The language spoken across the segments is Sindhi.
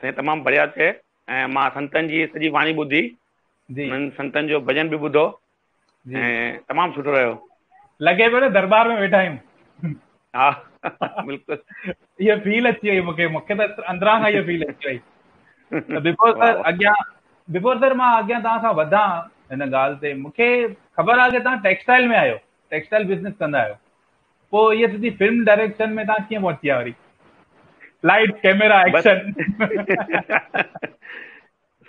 سائين تمام بڙيا چئي ۽ مان سنتن جي سڄي واڻي ٻڌي جي انهن سنتن جو ڀڄن به ٻڌو جي ۽ تمام سٺو رهيو. لڳي پيو نه درٻار ۾ ويٺا آهيون. ها بلڪل. اها فيل اچي وئي مونکي مونکي ته اندران کان اها فيل اچي وئي ته بيپور سر اڳيان بيپور سر مان اڳيان توهان سان وڌان هن ڳالهه تي مونکي خبر آهي ته توهان ٽيڪسٽائل ۾ آهيو ٽيڪسٽائل بزنس ڪندا آهيو پوء هيء سڄي فلم ڊائريڪشن ۾ تان ڪيئن پهچي ويا وري لائٽ ڪيميرا ايڪشن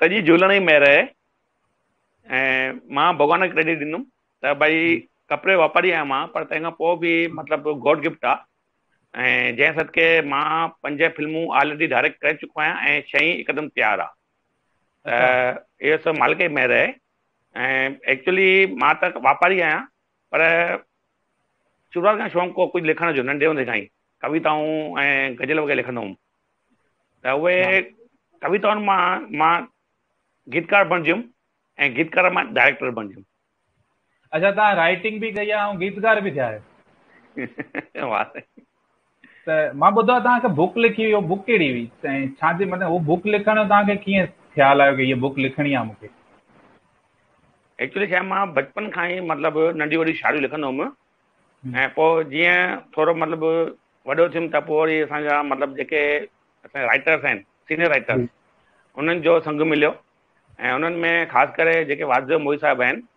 سڄي جهلڻ ئي مهر آهي ۽ مان ڀڳوان کي ڪريڊٽ ڏيندم ته ڀائي ڪپڙي واپاري آهيان مان پر تنهن کان پوء به مطلب گاڊ گفٽ آهي ۽ جنهن صدقي مان پنج فلمون آلريڊي ڊائريڪٽ ڪري چڪو آهيان ۽ ڇهين هڪدم تيار آهي اهو سڀ مالڪ جي مهر آهي ۽ ايڪچولي مان ته واپاري آهيان پر شروعات کان شوق هو ڪجهه لکڻ جو، ننڍي هوندي کان ئي ڪويتائون ۽ غزل وغيره لکندو هوم ته اهي ڪويتائن مان مان گيتڪار بڻجي ويم ۽ گيتڪار مان ڊائريڪٽر بڻجي ويم. اڇا تهان رائٽنگ به ڪئي آهي ۽ گيتڪار به ٿيا آهيو. واه سائين. ته مان ٻڌو آهي توهان هڪ بوڪ لکي هئي، اها بوڪ ڪهڙي هئي؟ ۽ ڇا جي مطلب اها بوڪ لکڻ جو توهان کي ڪيئن خيال آيو ته هيء بوڪ لکڻي آهي مون کي؟ ايڪچولي ڇا مان بچپن کان ئي مطلب ننڍي وڏي شاعريون لکندو هوم ۽ پوء جيئن ٿورو مطلب وڏو ٿيم ته پوء وري اسان جا مطلب جيڪي اسان رائٽرس آهن سينيئر رائٽرس انهن جو سنگ مليو ۽ انهن ۾ خاص ڪري جيڪي واضح موهي صاحب آهن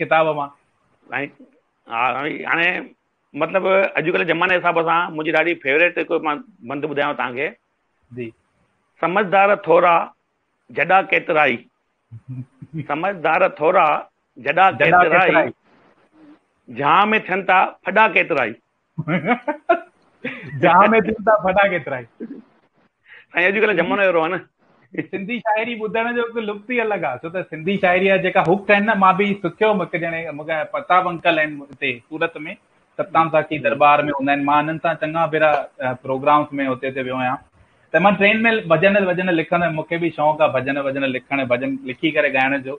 ڪتاب مان. سائين ها سائين هاڻي مطلب اڄڪلهه زماني حساب سان منهنجي ڏاڍي فيوريٽ هڪ مان بند ٻڌايانو توهان کي جي سمجھدار ٿورا جڏا ڪيترائي سمجھدار ٿورا جڏا ڪيترائي جھان ۾ ٿين ٿا ڦڏا ڪيترائي جهان ۾ دل تان ڦٽا ڪيترائي سائين اڄ ڪلهه زمانو اهڙو آهي نه سنڌي شاعري ٻڌڻ جو هڪ لطف ئي الڳ آهي ڇو ته سنڌي شاعري جا جيڪا هڪ آهن نه مان به سکيو هوم هڪ ڄڻي مونکي پرتاب انڪل آهن هتي سورت ۾ ستام ساقي دربار ۾ هوندا آهن مان هنن سان چڱا ڀيرا پروگرامس ۾ هتي هتي ويو آهيان ته مان ٽرين ۾ ڀڄن ڀڄن لکندو آهيان مونکي به شوق آهي ڀڄن ڀڄن لکڻ ڀڄن لکي ڪري ڳائڻ جو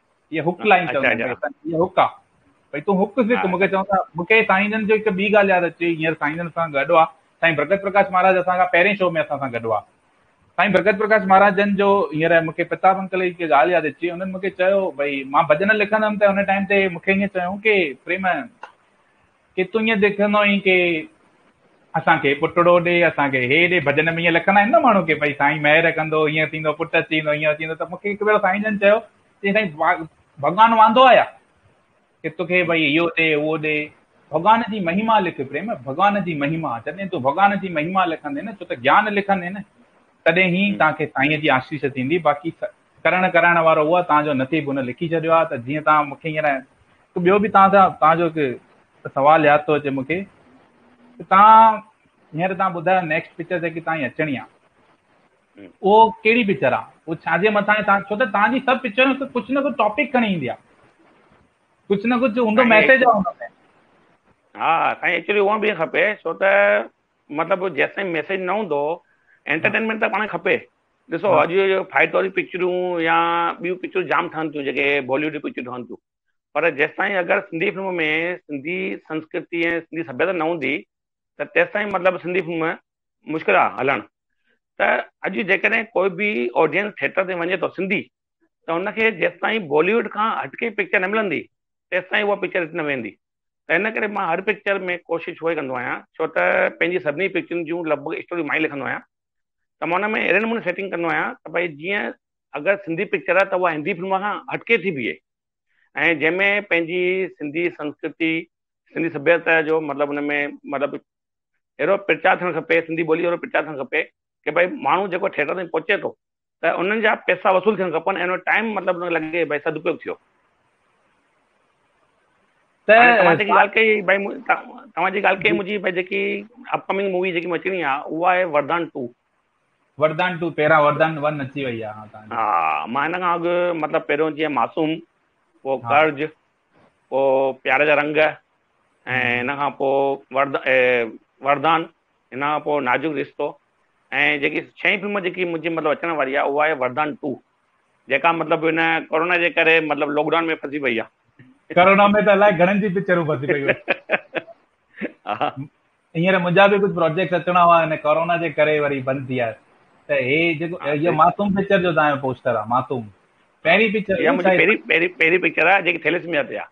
هي هڪ لائين اچا چوندو اچا آهي، هي هڪ آ. ڀئي تون هڪ سک، مون کي اچا چوندا، مون کي سائين جن جي هڪ ٻي ڳالهه ياد اچي وئي، هينئر سائين جن اسان سان گڏ هئا، سائين برڪت پرڪاش مهاراج اسان کان پهرين شو ۾ اسان سان گڏ هئا. سائين برڪت پرڪاش مهاراج جن جو هينئر مون کي پرتاب انڪل جي هڪ ڳالهه ياد اچي وئي، انهن مون کي چيو، ڀئي مان ڀڄن لکندم ته ان ٽائيم تي مون کي ائين چيائون ڪي پريم ڪي تون ائين ڏڪندو آهين ڪي اسان کي پٽڙو ڏي اسان کي هي ڏي ڀڄن ۾ ائين لکندا آهن نه ماڻهو ڪي ڀئي سائين مهر ڪندو ائين ٿيندو پٽ اچي ويندو ائين اچي ويندو ته مونکي هڪ ڀيرو سائين جن چيو چي سائين ڀڳوان واندو آهي يا ڪي توکي ڀئي اهو ڏي اهو ڏي ڀڳوان جي مهيما لک پريم ڀڳوان جي مهيما جڏهن تون ڀڳوان جي مهيما لکندين ڇو ته گيان لکندين تڏهن هي توهان کي سائين جي آشيس ٿيندي باقي ڪرڻ ڪرائڻ وارو اهو آهي توهان جو نصيب ان لکي ڇڏيو آهي ته جيئن توهان مونکي هينئر هڪ ٻيو به توهان سان توهان جو هڪ سوال ياد ٿو اچي مونکي ته توهان هينئر توهان ٻڌايو نيڪسٽ پڪچر جيڪي توهان جي اچڻي آهي اهو ڪهڙي پڪچر آ اهو ڇا جي مٿان توهان ڇو ته توهان جي سڀ پڪچرون هڪ ڪجهه نه ڪجهه ٽاپڪ کڻي ايندي آ ڪجهه نه ڪجهه هوندو ميسيج آ هن ۾ ها سائين ايڪچولي هونئن به کپي ڇو ته مطلب جيسين ميسيج نه هوندو انٽرٽينمينٽ ته پاڻ کپي ڏسو اڄ فائٽ واريون پڪچرون يا ٻيون پڪچرون جام ٺهن ٿيون جيڪي باليوڊ جون پڪچرون ٺهن ٿيون پر جيستائين اگر سنڌي فلم ۾ سنڌي سنسڪرتي ۽ سنڌي سڀيتا نه هوندي ته تيستائين مطلب سنڌي فلم مشڪل آ هلڻ ته اڄ جيڪڏهن ڪوئي به آڊينس ٿيٽر تي وڃي ٿو سنڌي ته ان کي جيستائين باليوڊ کان هٽڪي پڪچر نه ملندي تيستائين اها پڪچر هٽ نه ويندي ته ان ڪري مان هر پڪچر ۾ ڪوشش اها ئي ڪندو آهيان ڇو ته پنهنجي سڀني پڪچرن جون لڳ ڀڳ اسٽوريون مان ئي لکندو آهيان ته مان ان ۾ اهڙي نموني سيٽنگ ڪندو آهيان ته ڀائي جيئن اگر سنڌي پڪچر آهي ته اها هندي فلم کان هٽڪي ٿي بيهي ۽ جنهن ۾ پنهنجي سنڌي سنسڪرتي سنڌي سڀيتا جو مطلب ان ۾ مطلب اهڙو پرچار ٿيڻ کپي سنڌي ٻولي اهڙو پرچار ٿيڻ کپي ڪي ڀائي ماڻهو جيڪو ٿيٽر تائين پهچي ٿو ته انهن جا پئسا وصول ٿيڻ کپن ۽ انهو ٽائيم مطلب انهن کي لڳي ته ڀائي سدپيوگ ٿيو. هاڻي توهان جيڪي ڳالهه ڪئي ڀائي توهان جي ڳالهه ڪئي منهنجي ڀائي جيڪي اپڪمنگ مووي جيڪي مون اچڻي آهي اها آهي وردان ٽو. وردان ٽو پهريان وردان ون اچي وئي آهي هاڻ توهان جي. ها مان هن کان اڳ مطلب پهريون جيئن معصوم پوء قرض پوء پيار جا رنگ ۽ هن کان پوء ورد وردان ان کان پوء نازڪ رشتو ۽ جيڪي ڇهين فلم جيڪي منهنجي مطلب اچڻ واري آهي اها آهي وردان ٽو جيڪا مطلب هن ڪورونا جي ڪري مطلب لاڪ ڊائون ۾ ڦسي پئي آهي. ڪورونا ۾ ته الائي گهڻن جي پڪچرون ڦسي پيون آهن. هينئر منهنجا به ڪجهه پروجيڪٽس اچڻا هئا هن ڪورونا جي ڪري وري بند ٿي آهي ته هي جيڪو هي معصوم پڪچر جو تان جو پوسٽر آهي معصوم پهرين پڪچر اها منهنجي پهرين پهرين پهرين پڪچر آهي جيڪي ٿيليسميا تي آهي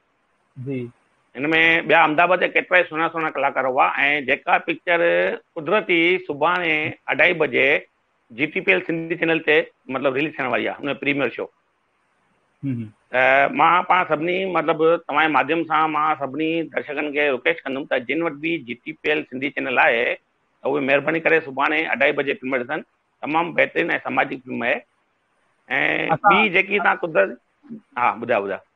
جي. هن ۾ ٻيا امداباد جا ڪيترائي سهڻا سهڻا ڪلاڪار هئا ۽ جيڪا پڪچر قدرتي سڀاڻي اڍائي بجي J T P L Sindhi channel تي مطلب رليز ٿيڻ واري آهي ان پريميئر شو ته مان پاڻ سڀني مطلب توهان جي ماڌيم سان مان سڀني درشڪن کي رڪويسٽ ڪندم ته جن وٽ به J T P L Sindhi channel آهي ته اهي مهرباني ڪري سڀاڻي اڍائي بجي فلم ڏسن تمام بهترين ۽ سماجي فلم آهي ۽ ٻي جيڪي تان قدرت ها ٻڌاء ٻڌاء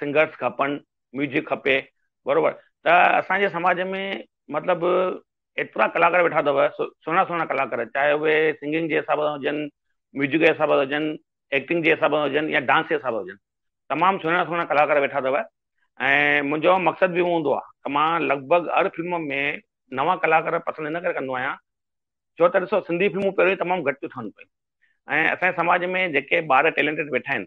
سنگرس کپن ميوزڪ کپي بروبر ته اسان جي سماج ۾ مطلب ايترا ڪلاڪار ويٺا اٿو سهڻا سهڻا ڪلاڪار چاهي اهي سنگنگ جي حساب سان هجن ميوزڪ جي حساب سان هجن ايڪٽنگ جي حساب سان هجن يا ڊانس جي حساب سان هجن تمام سهڻا سهڻا ڪلاڪار ويٺا اٿو ۽ منهنجو مقصد به هوندو آهي ته مان لڳ ڀڳ هر فلم ۾ نوان ڪلاڪار پسند هن ڪري ڪندو آهيان ڇو ته ڏسو سنڌي فلمون پهريون تمام گهٽ ٿيون ٺهن پيون ۽ اسان سماج ۾ جيڪي ٻار ٽيلنٽيڊ ويٺا آهن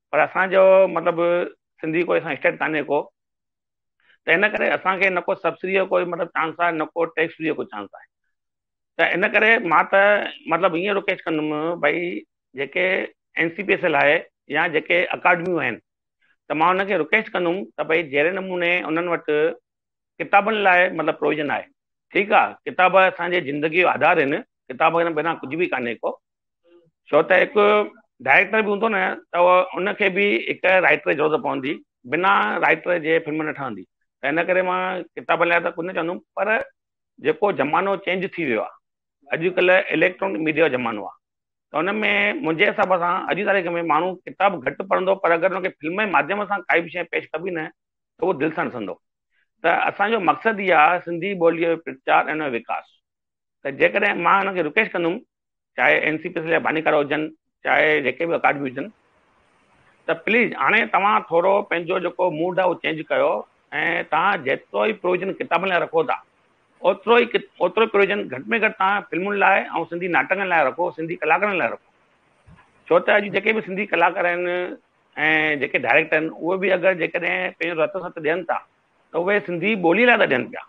پر اسان جو مطلب سنڌي ڪوئي اسان اسٽيٽ ڪانهي ڪو ته ان ڪري اسان کي نڪو سبسڊي جو ڪوئي مطلب چانس آهي نڪو ٽيڪس فري جو ڪو چانس آهي ته ان ڪري مان ته مطلب ائين رڪويسٽ ڪندم ڀئي جيڪي N C P S L آهي يا جيڪي اڪاڊميون آهن ته مان ان کي رڪويسٽ ڪندم ته ڀئي جهڙي نموني انهن وٽ ڪتابن لاء مطلب پروويزن آهي ٺيڪ آ ڪتاب اسان جي زندگي جو آڌار آهن ڪتاب کان بنا ڪجهه به ڪانهي ڪو ڇو ته هڪ ڊائريڪٽر به هوندو نه ته ان کي به هڪ رائٽر جي ضرورت پوندي بنا رائٽر جي فلم نه ٺهندي ته ان ڪري مان ڪتاب لاء ته ڪجهه نه چوندم پر جيڪو زمانو چينج ٿي ويو آهي اڄڪلهه اليڪٽرانڪ ميڊيا جو زمانو آهي ته ان ۾ منهنجي حساب سان اڄ جي تاريخ ۾ ماڻهو ڪتاب گهٽ پڙهندو پر اگر ان کي فلم جي ماڌيم سان ڪائي به شيء پيش ڪبي نه اهو دل سان ڏسندو ته اسان جو مقصد ئي آهي سنڌي ٻوليء جو پرچار ۽ ان جو وڪاس ته جيڪڏهن مان هن کي رڪويسٽ ڪندم چاهي اين سي پي سليا ڀانيڪارا هجن چاهي جيڪي به اڪاڊمي هجن ته پليز هاڻي توهان ٿورو پنهنجو جيڪو موڊ آهي اهو چينج ڪيو ۽ توهان جيترو ئي پروويزن ڪتابن لاء رکو ٿا اوترو ئي اوترو ئي پروويزن گهٽ ۾ گهٽ توهان فلمن لاء ۽ سنڌي ناٽڪن لاء رکو سنڌي ڪلاڪارن لاء رکو ڇو ته اڄ جيڪي به سنڌي ڪلاڪار آهن ۽ جيڪي ڊائريڪٽر آهن اهي به اگر جيڪڏهن پنهنجو رت ست ڏين ٿا ته اهي سنڌي ٻولي لاء ٿا ڏين پيا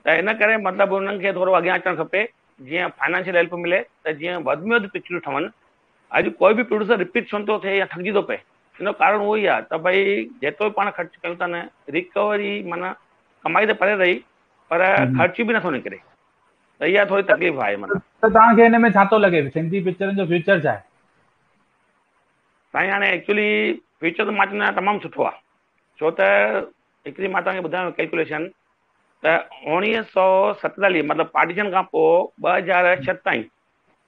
ته ان ڪري مطلب انهن کي ٿورو اڳيان اچڻ کپي جيئن فائنانشل هيلپ ملي ته جيئن وڌ ۾ وڌ پڪچرون ٺهن اڄ ڪوئي به پروڊيوسر رپيٽ ڇو نٿو ٿئي يا ٺڳجي ٿو پئي ان جو ڪارڻ اهو ئي آهي ته ڀئي جيترو پاڻ خرچ ڪيون ٿا نه ريڪوري معنيٰ ڪمائي ته پري رهي پر خرچ به نٿو نڪري ته اها ٿوري تڪليف آهي مطلب ته توهان کي ان ۾ ڇا ٿو لڳي سنڌي پڪچرن جو فيوچر ڇا آهي سائين هاڻي ايڪچولي فيوچر ته مارجن لاء تمام سٺو آهي ڇو ته هڪڙي مان توهان کي ٻڌايان ڪيلڪوليشن ته اوڻيهه سو ستيتاليهه مطلب پارٽيشن کان پوء ٻه هزار ڇهه تائين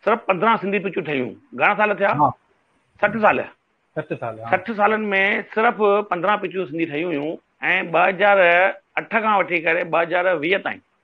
صرف پندرهن سنڌي پچون ٺهيون گهڻا سال ٿيا سٺ سال سٺ سالن ۾ صرف پندرهن پچون سنڌي ٺهيون هيون ۽ ٻه هزار اٺ کان وٺي ڪري ٻه هزار ويهه تائين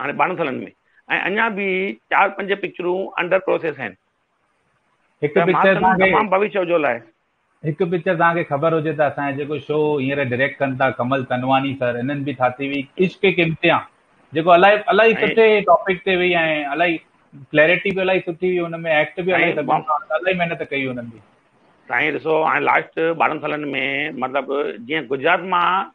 هاڻي ٻارهن سالن ۾ ۽ اڃا به چار پنج پڪچرون انڊر پروسيس آهن هڪ پڪچر تمام ڀوشيو جو لاء هڪ پڪچر توهان کي خبر هجي ته اسان جيڪو شو هينئر ڊائريڪٽ ڪن ٿا ڪمل تنواني سر انهن به ٿاتي هئي عشق ڪي امتحان جيڪو الائي الائي سٺي ٽاپڪ تي وئي ۽ الائي ڪليئرٽي به الائي سٺي هئي ان ۾ ايڪٽ به الائي سٺو الائي محنت ڪئي انهن به سائين ڏسو هاڻي لاسٽ ٻارهن سالن ۾ مطلب جيئن گجرات مان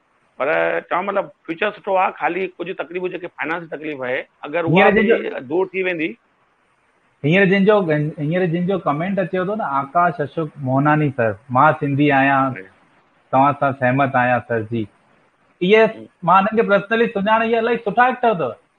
پر چوان مطلب فيوچر سٺو آ خالي ڪجهه تڪليفون جيڪي فائنانس جي تڪليف آهي اگر اها دور ٿي ويندي هينئر جن جو هينئر جن جو ڪمينٽ اچيو ٿو نه آڪاش اشوڪ موهناني سر مان سنڌي آهيان توهان سان سهمت آهيان سر جي اهي مان انهن کي پرسنلي سڃاڻي اهي الاهي سٺا ايڪٽر اٿو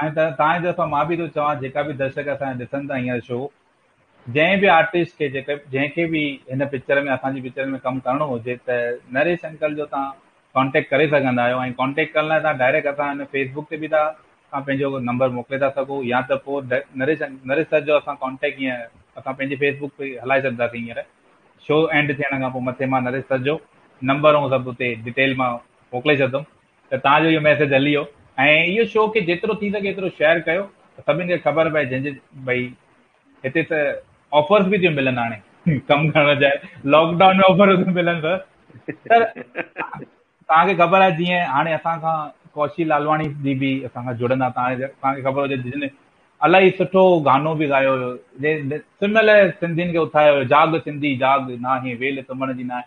ائين ته تان جي طرفان مان به ٿو چوان جيڪا به درشڪ اسان جا ڏسن ٿا هينئر شو جنهن به آرٽسٽ کي جيڪي جنهن کي به هن پڪچر ۾ اسان جي پڪچر ۾ ڪم ڪرڻو هجي ته نريش انڪل جو تان ڪانٽيڪٽ ڪري سگهندا آهيو ۽ ڪانٽيڪٽ ڪرڻ لاء تان ڊائريڪٽ اسان هن فيس بڪ تي به ٿا تان پنهنجو نمبر موڪلي ٿا سگهو يا ته پوء نريش نريش سر جو اسان ڪانٽيڪٽ هيئن اسان پنهنجي فيس بڪ تي هلائي سگهنداسين هينئر شو اينڊ ٿيڻ کان پوء مٿي مان نريش سر جو نمبر ۽ سڀ اتي ڊيٽيل مان موڪلي ڇڏندم ته تان جو اهو ميسيج هلي ويو ۽ اهو شو کي جيترو ٿي سگهي ايترو شيئر ڪيو ته سڀني کي خبر پئي جنهن جي ڀئي هتي ته آفرز به ٿيون ملن هاڻي ڪم ڪرڻ جاء لاڪ ڊائون ۾ آفر ٿيون ملن سر سر تان کي خبر آهي جيئن هاڻي اسان کان ڪوشي لالواڻي جي به اسان کان جڙندا تان تان کي خبر هجي جن الاهي سٺو گانو به ڳايو هيو جنهن سمهل سنڌين کي اٿايو هيو جاڳ سنڌي جاڳ ناهي ويل سمهڻ جي ناهي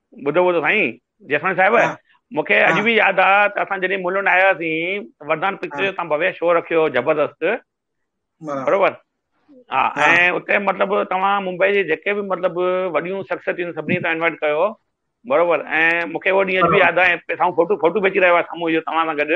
ٻڌو ٻڌو سائين جيسمل صاحب ها مون کي اڄ ها به ياد آ ته اسان جڏهن ملن آياسين وردان ها پڪچر جو تان ڀويه شو رکيو هو زبردست برابر برابر ها ها ۽ اتي مطلب توهان ممبئي جي جيڪي به مطلب وڏيون شخصيتون آهن سڀني کي توهان انوائٽ ڪيو هو برابر ۽ مون کي اهو ڏينهن اڄ به برابر ياد آ ۽ پي سامهون فوٽو فوٽو به اچي رهيو آ سامهون اهو توهان سان گڏ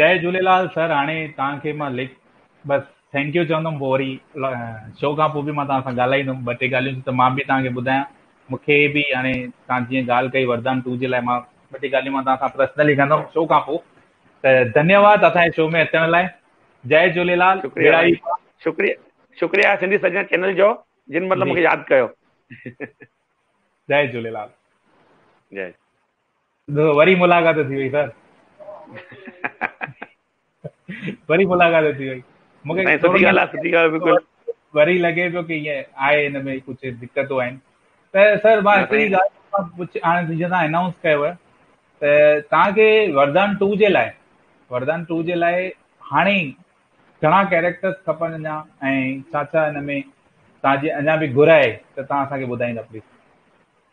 جي جهوليلال سر هاڻي توهان کي مان لک بس ٿينڪ يو چوندم پوء وري شو کان پوء به مان توهان سان ڳالهائيندم ٻه ٽي ڳالهيون ته مان به توهان کي ٻڌايان مون کي به هاڻي توهان جيئن ڳالهه ڪئي وردان ٽو جي لاء مان ٻه ٽي ڳالهيون مان توهان سان پرسنلي ڪندم شو کان پوء ته ڌنيواد اسانجي شو ۾ اچڻ لاء جي جهوليلال شڪريا شڪريا سنڌي سجنا چينل جو جن مطلب مون کي ياد ڪيو جي جهوليلال جي وري ملاقات ٿي وئي سر وري ملاقات ٿي وئي مونکي سٺي ڳالهه آهي سٺي ڳالهه بالڪل وري لڳي پيو ڪي هي آهي ان ۾ ڪجهه دقتون آهن ته سر مان هڪڙي ڳالهه هاڻي جيئن تان انائونس ڪيو آهي ته تان کي وردان 2 جي لاء وردان 2 جي لاء هاڻي گهڻا ڪيريڪٽرز کپن اڃا ۽ ڇا ڇا ان ۾ تان جي اڃا به گهر آهي ته تان اسان کي ٻڌائيندا پليز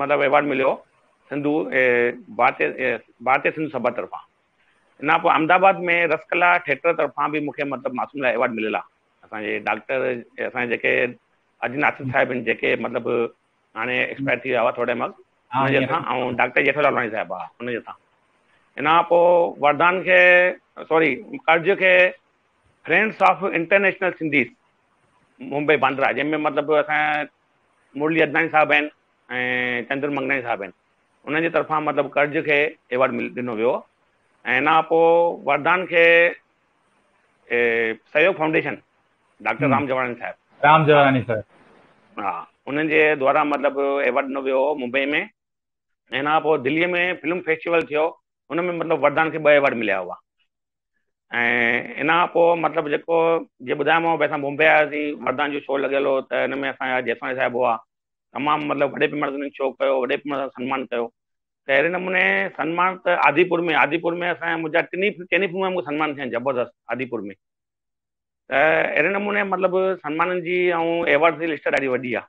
مطلب ايوارڊ مليو هو سنڌو ڀارتي ڀارتي سنڌو سڀا طرفان ان کان پوء احمد آباد ۾ رس ڪلا ٿيٽر طرفان به مونکي مطلب معصوم لاء ايوارڊ مليل آهي اسان جي ڊاڪٽر اسان جي جيڪي اجي ناصر صاحب آهن جيڪي مطلب هاڻي ايڪسپائر ٿي ويا هئا ٿوري ٽائيم اڳ ان جي اسان ۽ ڊاڪٽر جيٺو لالواڻي صاحب آهي ان جي اسان ان کان پوء وردان کي سوري قرض کي friends of international Sindhis Mumbai Bandra جنهن ۾ مطلب اسان مرلي عدناني صاحب آهن ۽ چندر منگناني صاحب آهن انهن جي طرفان مطلب ڪرج کي ايوارڊ مل ڏنو ويو ۽ ان کان پوء وردان کي سهيوگ فائونڊيشن ڊاڪٽر رام جواراني صاحب رام جواراني صاحب ها انهن جي دوارا مطلب ايوارڊ ڏنو ويو هو ممبئي ۾ ۽ ان کان پوء دلي ۾ فلم فيسٽيول ٿيو ان ۾ مطلب وردان کي ٻه ايوارڊ مليا هئا ۽ ان کان پوء مطلب جيڪو جي ٻڌايومانو ڀي اسان بومبي آياسين وردان جو شو لڳل هو ته ان ۾ اسان جا جيسواڻي صاحب هئا تمام مطلب وڏي پيماڻي تي انهن شو ڪيو وڏي پيماڻي سان سنمان ڪيو ته اهڙي نموني سنمان ته آديپور ۾ آديپور ۾ اسان منهنجا ٽنهي چئني فلمن ۾ سنمان ٿيا آهن زبردست آديپور ۾ ته اهڙي نموني مطلب سنمانن جي ۽ ايوارڊ جي لسٽ ڏاڍي وڏي آهي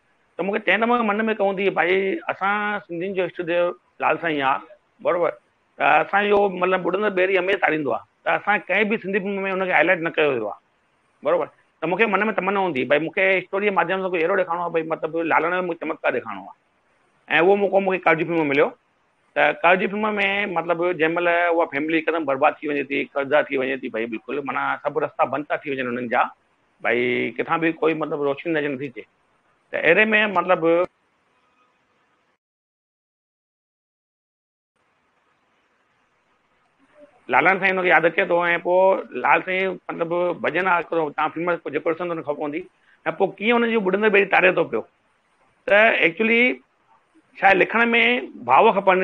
ته مون کي تنهن دم من ۾ ڪون ٿي ڀائي اسان سنڌين جو اشٽ ديو لال سائين آ برابر ته اسان جو مطلب ٻڏندڙ ٻيڙي هميشه تاريندو آ ته اسان ڪنهن به سنڌي فلم ۾ ان کي هائلائيٽ نه ڪيو ويو آ برابر ته مون کي من ۾ تمنا هوندي ڀائي مون کي اسٽوري جي ماڌيم سان ڪجهه اهڙو ڏيکارڻو آ ڀائي مطلب لالڻ جو مون کي چمتڪار ڏيکارڻو آ ۽ اهو موقعو مون کي قرض فلم ۾ مليو ته قرض فلم ۾ مطلب جنهن مهل اها فيملي هڪدم برباد ٿي وڃي ٿي قرضدار ٿي وڃي ٿي ڀائي بلڪل معنيٰ سڀ رستا بند ٿا ٿي وڃن انهن جا ڀئي ڪٿان به ڪوئي مطلب روشني نظر نٿي اچي ته اهڙي ۾ مطلب لالان سائين ان کي ياد اچي ٿو ۽ پوء لال سائين مطلب ڀڄن آ ڪرو تان فلم ۾ جيڪو ڏسندو ان خبر پوندي ۽ پوء ڪيئن ان جون ٻڏندڙ ٻيڙي تاري ٿو پيو ته ايڪچولي شايد لکڻ ۾ ڀاو کپن